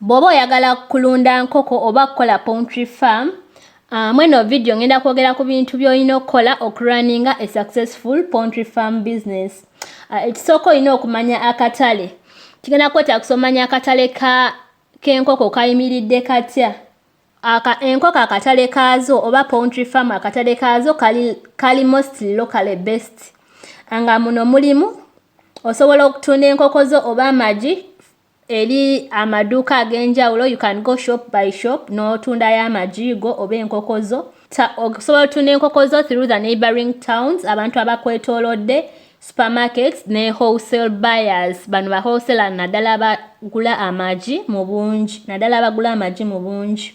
Bwoba oyagala kulunda nkoko oba kukola poultry farm, uh, mweno video ngenda kwogera ku bintu byolina okukola okurunninga a successful poultry farm business. Uh, ekisooka olina okumanya akatale. Kigenda kwetaagisa omanya akatale ka k'enkoko kayimiridde katya. Aka enkoko akatale kaazo oba poultry farm akatale kaazo kali, kali mostly locally based nga muno mulimu osobola okutunda enkoko zo oba amagi Eri amaduuka ag'enjawulo you can go shop by shop n'otundayo amagi go oba enkoko zo. Osobola otunda enkoko zo through the neighboring towns abantu abakwetoolodde supermarkets ne wholesale buyers bano ba wholesaler naddala abagula amagi mu bungi naddala abagula amagi mu bungi.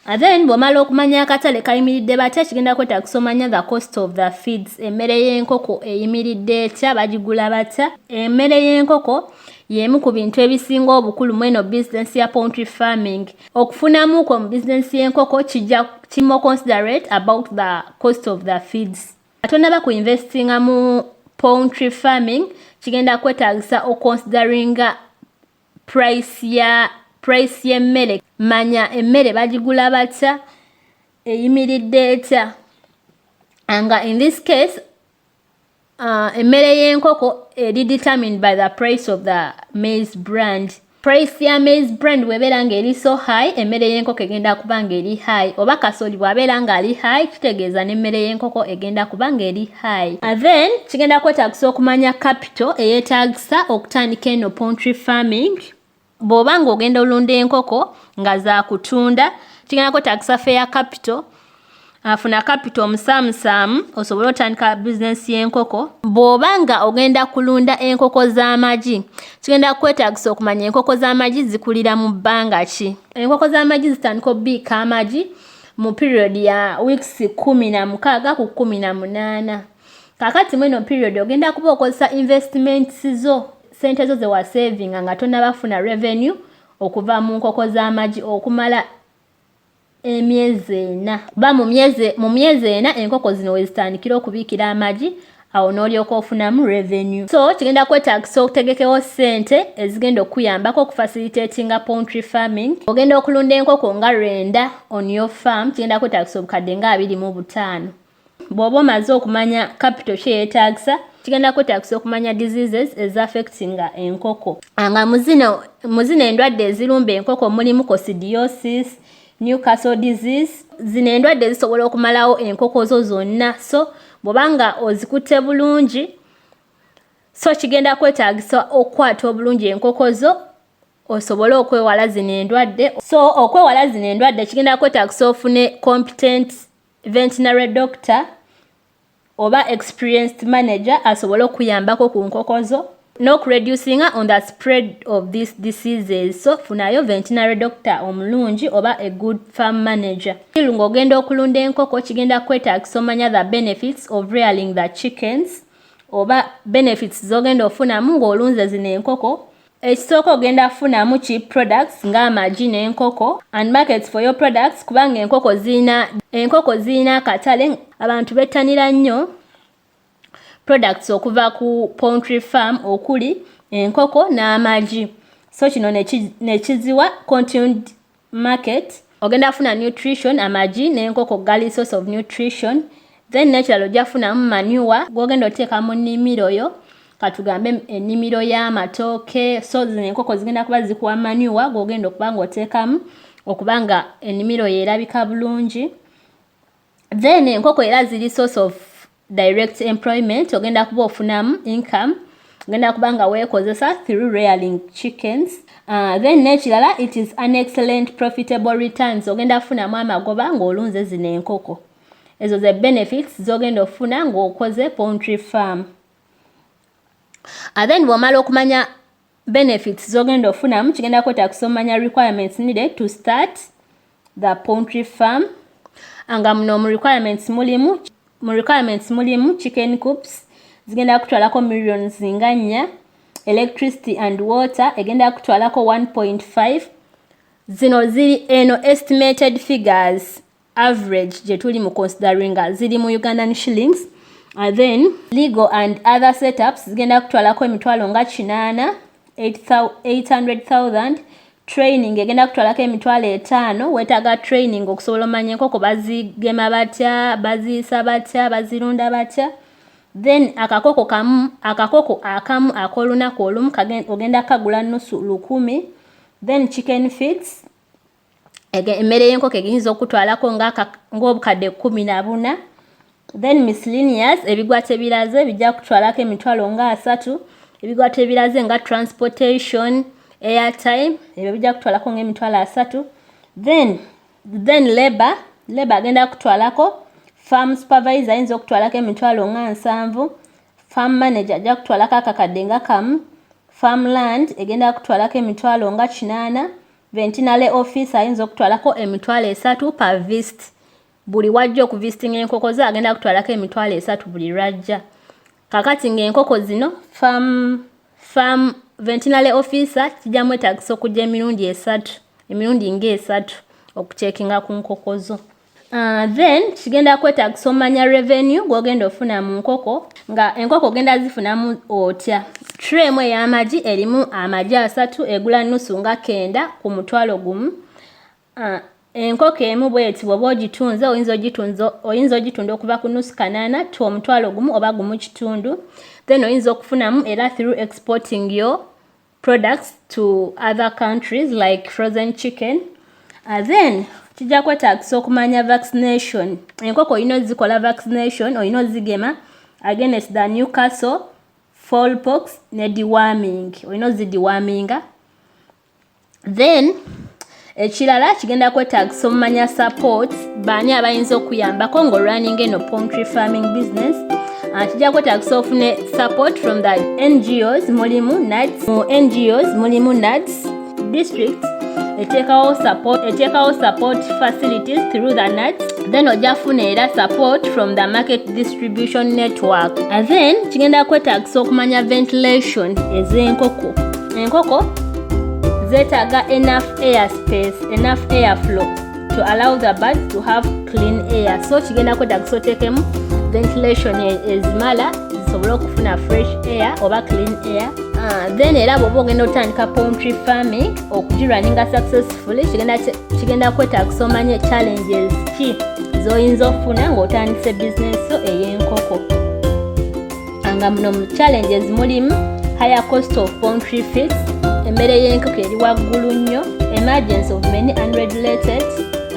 Uh, then bw'omala okumanya akatale kayimiridde batya kigenda kwetaagisa omanya the cost of the feeds emmere y'enkoko eyimiridde etya bagigula batya emmere y'enkoko y'emu ku bintu ebisinga obukulu mu eno bizinensi ya poultry farming okufunamu kwo mu bizinensi y'enkoko kijja kimo considerate about the cost of the feeds atonaba ku investinga mu poultry farming kigenda kwetaagisa oconsideringa price ya price y'emmere manya emmere bagigula batya eyimiridde etya nga in this case uh, emmere y'enkoko eri determined by the price of the maize brand price ya maize brand bwebeera nga eri so high emmere y'enkoko egenda kuba nga eri high oba kasooli bwabeera nga ali high kitegeeza n'emmere y'enkoko egenda kuba nga eri high uh, then kigenda kwetagisa okumanya cap to eyetaagisa okutandika eno poultry farming bw'oba ng'ogenda olunda enkoko nga zakutunda kigenda kwetaagisa feya capital afuna kapito omusaamusaamu osobole otandika bizinensi y'enkoko bw'oba nga ogenda kulunda enkoko z'amagi kigenda kwetagisa okumanya enkoko z'amagi zikulira mu bbanga ki enkoko z'amagi zitandika obiika amagi mu period ya weeks kumi na mukaaga ku kumi na munaana kakati mweno period ogenda kuba okozesa investments zo sente zo zewasavinga nga tonabafuna revenue okuva mu nkoko z'amagi okumala emyezi ena kuba mu myezi ena enkoko zino wezitandikira okubiikira amagi awo n'olyoka ofunamu revenue so kigenda kwetagisa okutegekewo sente ezigenda okukuyambako okufacilitatinga poultry farming ogenda okulunda enkoko nga lwenda on your farm kigenda kwetagisa obukadde nga abiri mu butaano bw'oba omaze okumanya kapito kye yeetaagisa kigenda kwetaagisa okumanya diseases eza affectinga enkoko ah, nga mu zino endwadde ezirumba enkoko mulimu cosidiosis new castle disease zino endwadde zisobola okumalawo enkoko zo zonna so bw'oba nga ozikutte bulungi so kigenda kwetaagisa okukwata obulungi enkoko zo osobole okwewala zino endwadde so okwewala zino endwadde kigenda kwetaagisa ofune competent Ventinary doctor oba experienced manager asobole okuyambako ku nkoko zo n'okureducinga on the spread of this diseases so funayo ventinary doctor omulungi oba a good farm manager il ng'ogenda okulunda enkoko kigenda kwetaagisa omanya the benefits of rearing the chickens oba benefits z'ogenda ofunamu ng'olunze zino enkoko Ekisooka ogenda kufunamu ki products nga amagi n'enkoko and markets for your products kubanga enkoko zirina enkoko zirina akatale abantu bettanira nnyo products okuva ku poultry farm okuli enkoko n'amagi so kino ne kiziwa continued market ogenda afuna nutrition amagi n'enkoko gali source of nutrition then nekirala ojja kufunamu manure gwogenda oteeka mu nnimiro yo katugambe ennimiro y'amatooke so zino enkoko zigenda kuba zikuwa manure gwogenda okuba nga oteekamu okuba nga ennimiro yo erabika bulungi then enkoko era ziri source of direct employment ogenda kuba ofunamu income ogenda kuba nga weekozesa through rearing chickens uh, then n'ekirala it is an excellent profitable returns ogenda kufunamu amagoba ng'olunze zino enkoko ezo ze benefits z'ogenda okufuna ng'okoze poultry farm uh, then bw'omala okumanya benefits zogenda ofunamu kigenda kweta kusomanya requirements needed to start the poultry farm nga muno mu requirements mulimu mu requirements mulimu chicken coops zigenda kutwalako million zinga nnya electricity and water egenda kutwalako 1.5 zino ziri eno estimated figures average gyetuli mu consideringa ziri mu ugandan shillings uh, then legal and other setups zigenda kutwalako emitwalo nga kinaana 800000 training egenda kutwalako emitwalo etaano wetaaga training okusobola omanya enkoko bazigema batya baziisa batya bazirunda batya then akakoko kamu akakoko akamu ak'olunaku olumu ogenda kagula nusu lukumi then chicken feeds emmere y'enkoko eyinza okutwalako ng'obukadde kkumi na buna then miscellaneous ebigwa tebiraze bijja kutwalako emitwalo nga asatu ebigwa tebiraze nga transportation airtime ebyo bijja kutwalako ng'emitwalo asatu then then labor labor agenda kutwalako farm supervisor ayinza okutwalako emitwalo nga nsanvu farm manager ajja kutwalako akakadde nga kamu farm land egenda kutwalako emitwalo nga kinaana Ventinary office ayinza okutwalako emitwalo esatu pa vist buli wajja okuvistinga enkoko ze agenda kutwalako emitwalo esatu buli lwajja kakati ng'enkoko zino fam fam ventinary officer kijja mwetagisa okujja emirundi esatu emirundi ng'esatu okucekinga ku nkoko zo Uh, then kigenda kwetagisa omanya revenue gwogenda ofuna mu nkoko nga enkoko ogenda zifunamu otya tre emu ey'amagi erimu amagi asatu egula nusu nga kenda ku mutwalo gumu uh, enkoko emu bweti bwoba ogitunze oyinza ogitunda okuva ku nusu kanana to omutwalo gumu oba gumu kitundu then oyinza okufunamu era through exporting yo products to other countries like frozen chicken uh, then kijja kwetaagisa okumanya vaccination enkoko olina ozikola vaccination olina ozigema against the new castle fallpox ne dewarming olina ozidewarminga then ekirala kigenda kwetaagisa omumanya support baani abayinza okuyambako ng'olwaninga eno poultry farming business ah, kijja kwetaagisa ofune support from the ngos mulimu nuts mu ngos mulimu nuts district eteekawo support eteekawo support facilities through the nuts then ojja funa era support from the market distribution network and then kigenda kwetaagisa okumanya ventilation ez'enkoko enkoko zeetaaga enough air space enough air flow to allow the birds to have clean air so kigenda kwetagisa oteekemu ventilation e, ezimala zisobole okufuna fresh air oba clean air ah, then era bwoba ogenda otandika poultry farming okugirwaninga successfully kigenda kwetagisa omanye challenges ki zoyinza okufuna ng'otandise bizinesi ey'enkoko nga muno mu challenges mulimu higher cost of poultry feeds emmere y'enkoko eri waggulu nnyo emergence of many unregulated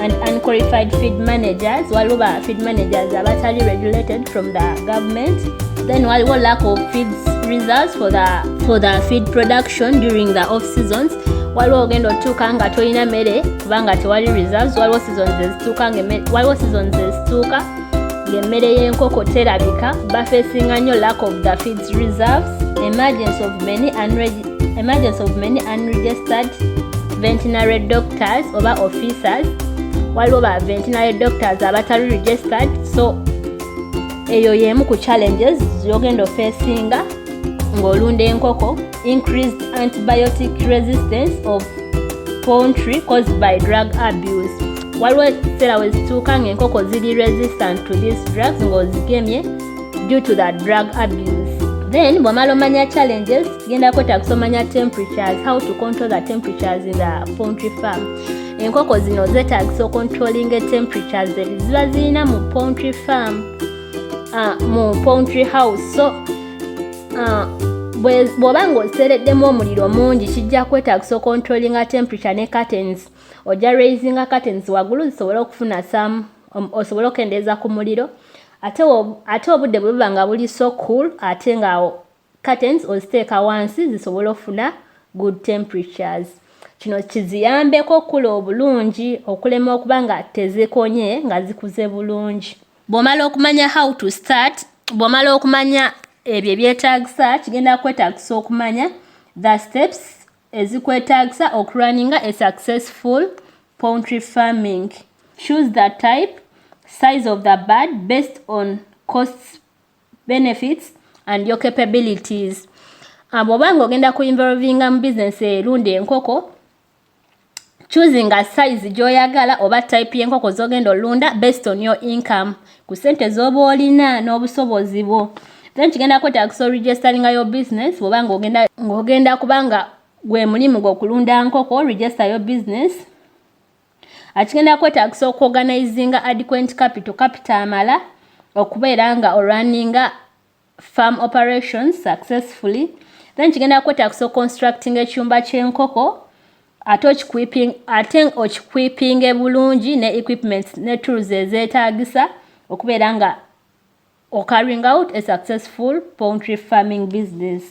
and unqualified feed managers waliwo ba feed managers abatali regulated from the government then waliwo lack of feed results for the, for the feed production during the off seasons waliwo ogenda otuuka nga tolina mmere kubanga tewali results waliwo seasons ezituuka waliwo seasons ezituuka ng'emmere y'enkoko terabika bafeesinga nnyo lack of the feeds reserves emergence of many emergence of many unregistered ventinary doctors oba officers waliwo ba ventinary doctors abatali registered so eyo y'emu ku challenges zogenda ofeesinga ng'olunda enkoko increased antibiotic resistance of poultry caused by drug abuse waliwo ekiseera we zituuka ng'enkoko ziri resistant to these drugs ng'ozigemye due to the drug abuse then bwamala omanya challenges genda kwetagisa omanya temperatures how to control the temperatures in the poultry farm enkoko zino zetagisa ocontrolling temperatures ziba zirina mu poultry farm uh, mu poultry house so ah, bw'oba ng'osereddemu omuliro mungi kijja kwetaagisa okontrolinga temperature ne curtains ojja raisinga curtains waggulu zisobole okufuna sam um, osobole okendeeza ku muliro ate ate obudde bwe buba nga buli so cool ate nga curtains oziteeka wansi zisobole okufuna good temperatures kino kiziyambeko okukula obulungi okulema okuba nga tezikonye nga zikuze bulungi bw'omala okumanya how to start bw'omala okumanya ebyo ebyetaagisa kigenda kwetaagisa okumanya the steps ezikwetaagisa okurunninga a successful poultry farming choose the type size of the bird based on costs benefits and your capabilities ah, bw'oba nga ogenda ku involvinga mu bizinesi erunda enkoko choosing a size gyoyagala oba type y'enkoko zogenda olunda based on your income ku sente zoba olina n'obusobozi bwo then kigenda kwetagisa oregisteringa your business bwoba ng'ogenda ng'ogenda kubanga gwe mulimu gw'okulunda nkoko register your business akigenda kwetagisa okuorganizinga adequent capital capital amala okubeera nga olwaninga farm operations successfully then kigenda kwetaagisa oconstructing ekyumba ky'enkoko ate okiquiping ate okiquipinge bulungi ne equipments ne tools ezeetaagisa okubeera nga ocarrying out a successful poultry farming business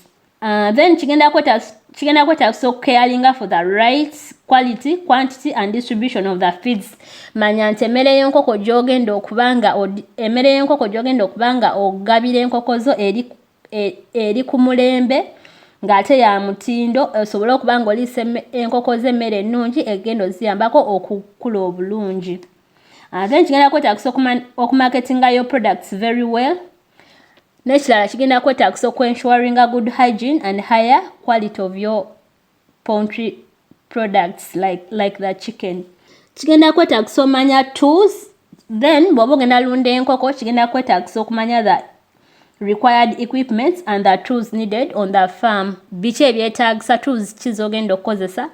Uh, then kigenda kwetaagisa okukeyalinga for the right quality quantity and distribution of the feeds manya nti emmere y'enkoko gyogenda okuba nga emmere y'enkoko gyogenda okuba nga ogabira enkoko zo eri, e, eri ku mulembe ng'ate ya mutindo osobole okuba nga oliisa enkoko z'emmere ennungi egenda oziyambako okukula obulungi uh, then kigenda kwetaagisa okumaketinga your products very well N'ekirala kigenda kwetaagisa okwensuaringa good hygiene and higher quality of your poultry products like, like the chicken. Kigenda kwetaagisa omanya tools then bw'oba ogenda lunda enkoko kigenda kwetaagisa okumanya the required equipments and the tools needed on the farm. Biki ebyetaagisa tools ki z'ogenda okukozesa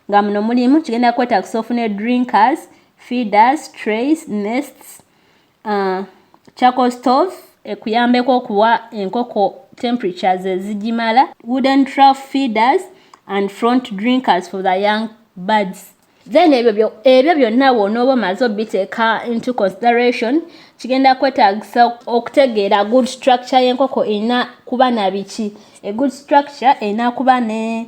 nga muno mulimu kigenda kwetaagisa ofune drinkers, feeders, trays, nests, Uh, charcoal stove ekuyambeko okuwa enkoko temperatures ezigimala wooden trough feeders and front drinkers for the young birds then ebyo ebyo byonna wonooba omaze obiteeka into consideration kigenda kwetagisa okutegeera good structure y'enkoko erina kuba na biki a good structure erina kuba ne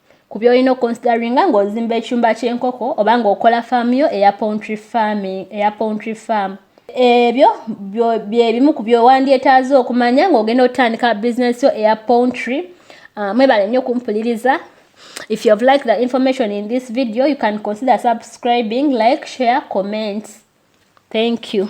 ku byolina oconsideringa ng'ozimba ekyumba ky'enkoko oba ng'okola faamu yo eya poultry farming eya poultry farm ebyo bye bimu ku byowandyetaaze okumanya ng'ogenda otandika bizinesi yo eya poultry uh, mwebale nnyo okumpuliriza if you have liked the information in this video you can consider subscribing like share comment thank you